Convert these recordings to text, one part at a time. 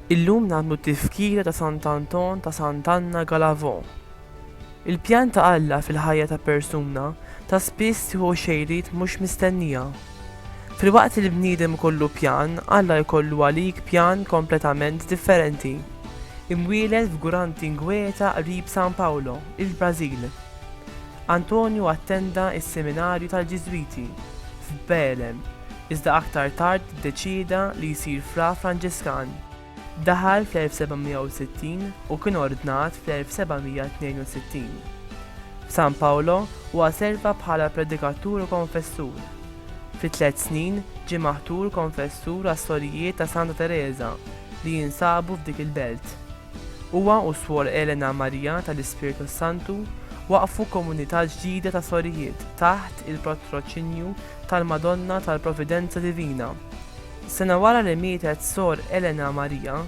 Illum nagħmlu t-tifkira ta' Sant'Anton ta' Sant'Anna Galavò. Il-pjan ta' Alla fil-ħajja ta' persuna ta' spiss jieħu xejriet mhux mistennija. Filwaqt li l-bniedem ikollu pjan, Alla jkollu għalik pjan kompletament differenti. Imwieled f'Gurantinguetá qrib São Paulo, il-Brażil, Antonio attenda s-seminarju tal-Ġiżwiti f'Beelem, iżda aktar tard iddeċieda li jsir fra Franġiskan. Daħal fl-1760 u kien ordnat fl-1762. F'San Paolo huwa serva bħala predikatur u konfessur. Fi tliet snin ġie maħtur konfessur għas-Sorijiet ta' Santa Tereża li jinsabu f'dik il-belt. Huwa u Suor Elena Maria tal-Ispirtu s-Santu waqqfu komunità ġdida ta' sorijiet taħt il-patroċinju tal-Madonna tal-Providenza Divina. Sena wara li mietet Sor Elena Maria,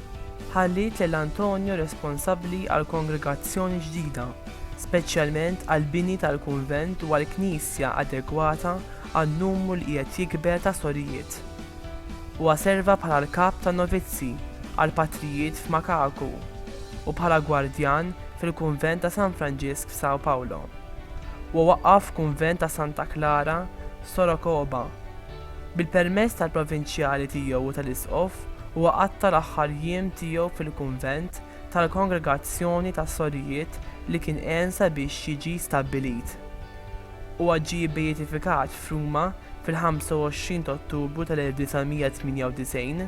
ħalliet lil Antonio responsabbli għall-kongregazzjoni ġdida, speċjalment għall-bini tal-kunvent u għal knisja adegwata għan-numru li qiegħed jikber ta' sorijiet. Huwa serva bħala l-kap tan-novizzi għall-patrijiet f'Macacu u bħala gwardjan fil-kunvent ta' San Franġisk f'São Paulo. Huwa waqqaf kunvent ta' Santa Clara f'Sorocaba. Bil-permess tal-provinċjali tiegħu u tal-isqof, huwa qatta' l-aħħar jiem tiegħu fil-kunvent tal-Kongregazzjoni tas-Sorijiet li kien għen sabiex jiġi stabbilit. Huwa ġie bbeatifikat f'Ruma fil-25 t'Ottubru tal-1998